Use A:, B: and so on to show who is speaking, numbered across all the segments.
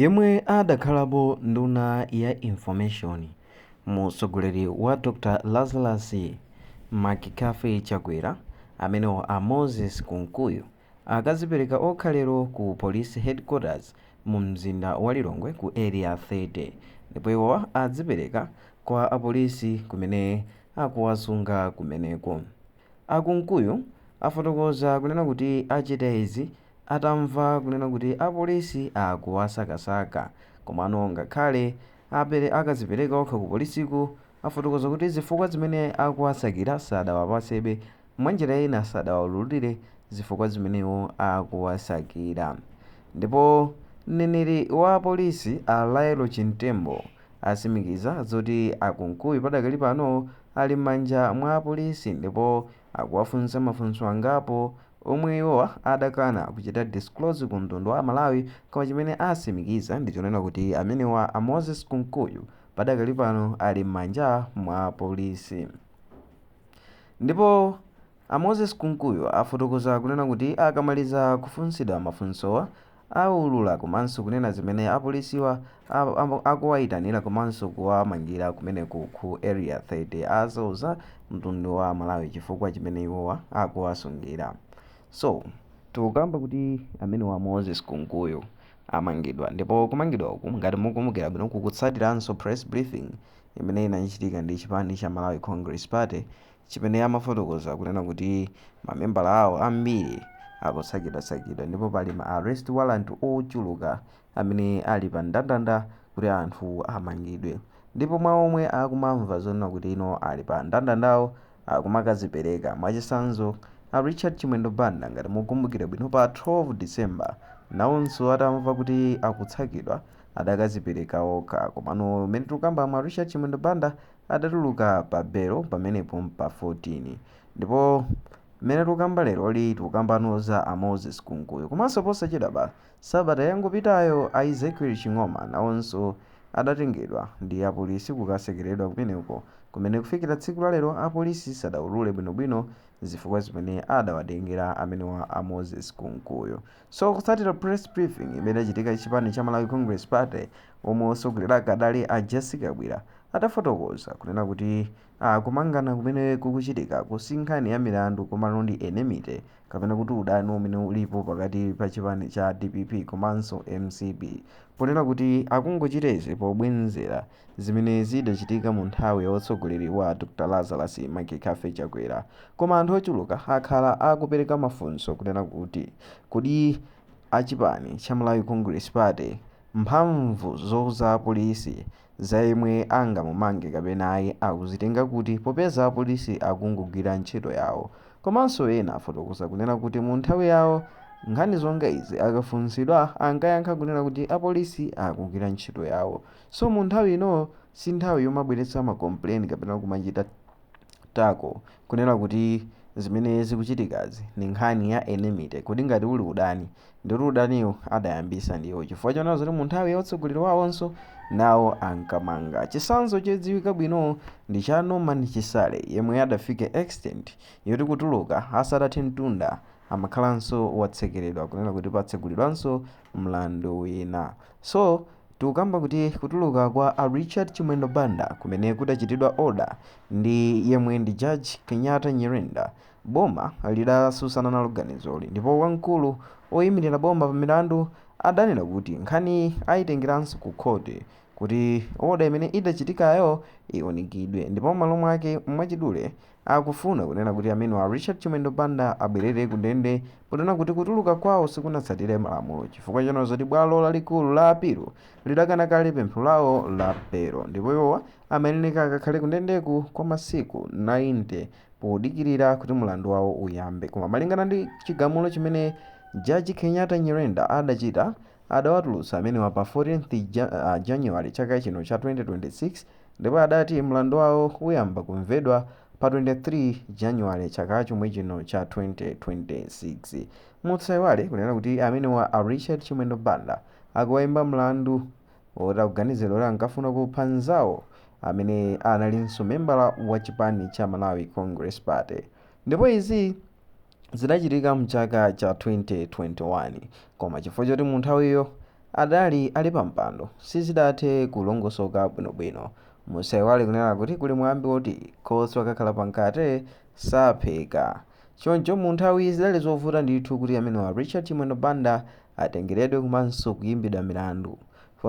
A: Yemwe adakhalapo nduna ya Information mu utsogoleri wa Dr Lazarus McCarthy Chakwera amenewa a Moses Kunkuyu akazipereka okha lero ku Police Headquarters mu mzinda wa Lilongwe ku Area 30 ndipo iwowa adzipereka kwa apolisi kumene akuwasunga kumeneko. A Kunkuyu afotokoza kunena kuti achita izi atamva kunena kuti apolisi akuwasakasaka. Komano ngakhale akazipereka okha ku polisiku, afotokoza kuti zifukwa zimene akuwasakira sadawapasebe, mwanjira ina sadawaululire zifukwa zimene iwo akuwasakira. Ndipo mneneri wa apolisi a Lael Chimtembo asimikiza zoti a Kunkuyu padakali pano ali m'manja mwa apolisi ndipo akuwafunsa mafunso angapo omwe iwowa adakana kuchita disclose ku mtundu wa Malawi koma chimene asimikiza ndi chonena kuti amenewa a Moses Kunkuyu padakali pano ali m'manja mwa polisi. Ndipo a Moses Kunkuyu afotokoza kunena kuti akamaliza kufunsidwa mafunsowa, awulula komanso kunena zimene apolisiwa akuwayitanila komanso kuwamangila kumeneku ku area 30 azauza mtundu wa amalawi chifukwa chimene iwowa akuwasungila so tikukamba kuti amenewa a moses kunkuyu amangidwa ndipo kumangidwa uku ngati mukumbukila bwino kukutsatilanso press briefing imene inachitika ndi chipani cha malawi congress party chimene amafotokoza kunena kuti ma membala awo ambiri akutsakidwatsakidwa ndipo pali ma arrest warrant ochuluka amene ali pa ndandanda kuti anthu amangidwe ndipo mwa omwe akumamva zonena kuti iwo ali pa ndandandawo akumakazipereka mwachisanzo a Richard Chimwendo Banda ngati mukumbukira bwino pa 12 December nawonso atamva kuti akutsakidwa adakazipereka okha komano mmene tikukambamu a Richard Chimwendo Banda adatuluka pa belo pamenepo pa 14 ndipo mmene tukamba leroli tikukambano za a Moses Kunkuyu komanso posachedwapa sabata yangopitayo a Ezekiel Ching'oma nawonso adatengedwa ndi apolisi kukasekeredwa kumeneko kumene kufikira tsiku la lero apolisi sadaulule bwinobwino zifukwa zimene adawatengera amenewa a Moses Kunkuyu. So kutsatira press briefing imene idachitika chipani cha Malawi Congress Party omwe osogolera ake adali a Jessie Kabwila atafotokoza kunena kuti kumangana kumene kukuchitikaku si nkhani ya milandu komano ndi enmity kapena kuti udani umene ulipo pakati pa chipani cha dpp komanso mcp ponena kuti akungochita izi pobwenzera zimene zidachitika mu nthawi ya utsogoleri wa a Dr Lazarus McCarthy Chakwera. Koma anthu ochuluka akhala akupereka mafunso kunena kuti kodi achipani cha Malawi Congress Party mphamvu zouza apolisi za yemwe angamumange kapena ayi akuzitenga kuti popeza apolisi akungogwira ntchito yawo. Komanso ena afotokoza kunena kuti mu nthawi yawo nkhani zonga izi akafunsidwa ankayankha kunena kuti apolisi akugwira ntchito yawo. So mu nthawi ino si nthawi yomabweretsa ma complain kapena kumachita tako kunena kuti zimene zikuchitikazi ni nkhani ya enmity kodi ngati uli udani ndikuti udaniwo adayambisa ndiwo chifukwa chonena zoti mu nthawi ya utsogoleri wawonso nawo ankamanga chitsanzo chodziwika bwino ndi cha Norman Chisale yemwe adafike extent yoti kutuluka asanathe mtunda amakhalanso watsekeredwa kunena kuti patsegulidwanso mlandu wina so Tikukamba kuti kutuluka kwa a Richard Chimwendo Banda kumene kudachitidwa order ndi yemwe ndi Judge Kenyatta Nyirenda, boma lidatsutsana nalo ganizoli ndipo wamkulu oyimirira boma pa milandu adanena kuti nkhaniyi ayitengeranso ku khothi kuti order imene idachitikayo iunikidwe ndipo m'malo mwake mwachidule Akufuna kunena kuti amenewa a Richard Chimwendo Banda abwerere ku ndende ponena kuti kutuluka kwawo sikunatsatire malamulo chifukwa chonena zoti bwalo lalikulu la apilo lidakana kale pempho lawo la belo ndipo iwowa amayenereka akakhale kundendeku kwa masiku 90 podikirira kuti mlandu wawo uyambe. Koma malingana ndi chigamulo chimene Jaji Kenyatta Nyirenda adachita, adawatulutsa amenewa pa 14th January chaka chino cha 2026 ndipo adati mlandu wawo uyamba kumvedwa pa 23 January chaka chomwe chino cha 2026. Musaiwale kunena kuti amenewa a Richard Chimwendo Banda akuwaimba mlandu oti akuganiziridwa kuti ankafuna kupha nzawo amene analinso membala wa chipani cha Malawi Congress Party ndipo izi zidachitika mchaka cha 2021 koma chifukwa choti munthawiyo adali ali pampando sizidathe kulongosoka bwinobwino. Musaiwale kunena kuti kuli mwambi woti khoswe akakhala pa mkate sapheka. Choncho munthawiyi zidali zovuta ndithu kuti amenewa Richard Chimwendo Banda atengeredwe komanso kuimbidwa milandu.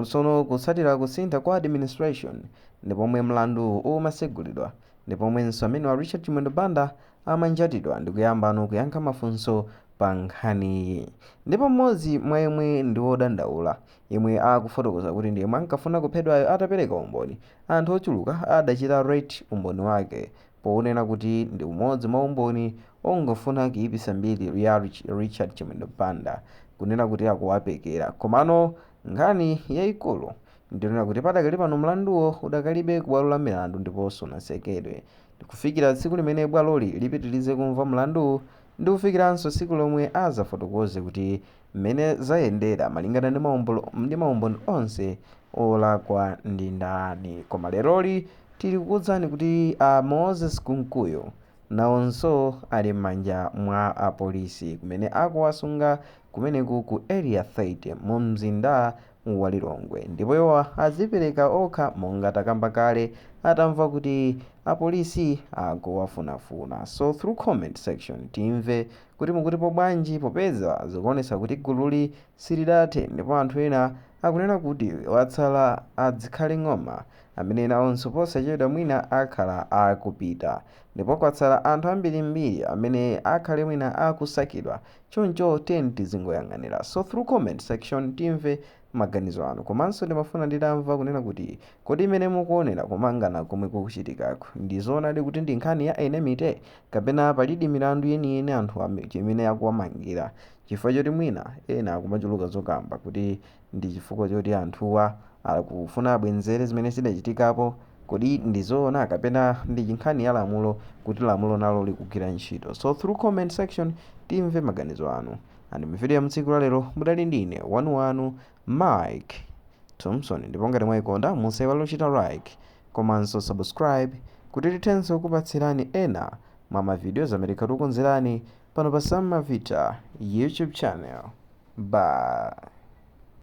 A: Tsono kutsatira kusintha kwa administration ndi pomwe mlanduwu umasegulidwa ndi pomwenso amenewa Richard Chimwendo Banda amanjatidwa ndikuyambano kuyankha mafunso pa nkhaniyi. Ndipo m'modzi mwa yemwe ndi wodandaula yemwe akufotokoza kuti ndi yemwe ankafuna kuphedwayo atapereka umboni, anthu ochuluka adachita rate umboni wake pounena kuti ndi umodzi mwa umboni ongofuna kuipisa mbiri ya Richard Chimwendo Banda kunena kuti akuwapekera komano nkhani yaikulu Ndinena kuti padakali pano mlanduwo udakalibe kubwalo la milandu ndiponso sunatsekedwe. Kufikira tsiku limene bwaloli lipitirize kumva mlandu ndi kufikiranso tsiku lomwe adzafotokoze kuti mmene zayendera malingana ndi maumboni onse, wolakwa ndi ndani. Koma leroli tili kukuuzani kuti a Moses Kunkuyu nawonso ali m'manja mwa apolisi kumene akuwasunga kumeneku ku Area 30 mumzinda wa Lilongwe ndipo iwo azipereka okha monga takamba kale atamva kuti apolisi akuwafunafuna. So through comment section timve kuti mukutipo bwanji popeza zikuonetsa kuti gululi silidathe ndipo anthu ena akunena kuti watsala a Zikhale Ng'oma amene nawonso posachedwa mwina akhala akupita ndipo kwatsala anthu ambirimbiri amene akhale mwina akusakidwa Choncho tiyeni tizingoyang'anira. So through comment section timve maganizo anu. Komanso ndimafuna nditamva kunena kuti kodi mmene mukuonera kumangana komwe kukuchitikaku ndi zoonadi kuti ndi nkhani ya enmity kapena palidi milandu yeniyeni anthuwa imene akuwamangira chifukwa choti mwina ena akumachuluka zokamba kuti Ndi chifukwa choti anthuwa akufuna abwenzere zimene zidachitikapo. Kodi ndi zoona kapena ndi nkhani ya lamulo kuti lamulo nalo likugwira ntchito? So through comment section timve maganizo anu. And mu video ya mu tsiku la lero mudali ndine wanu wanu Mike Thomson ndipo ngati mwaikonda musaiwale kuchita like komanso subscribe kuti tithe kupatsirani ena mwa ma videos amene tikhala tikukonzerani pano pa Sam Mavita YouTube channel. Bye.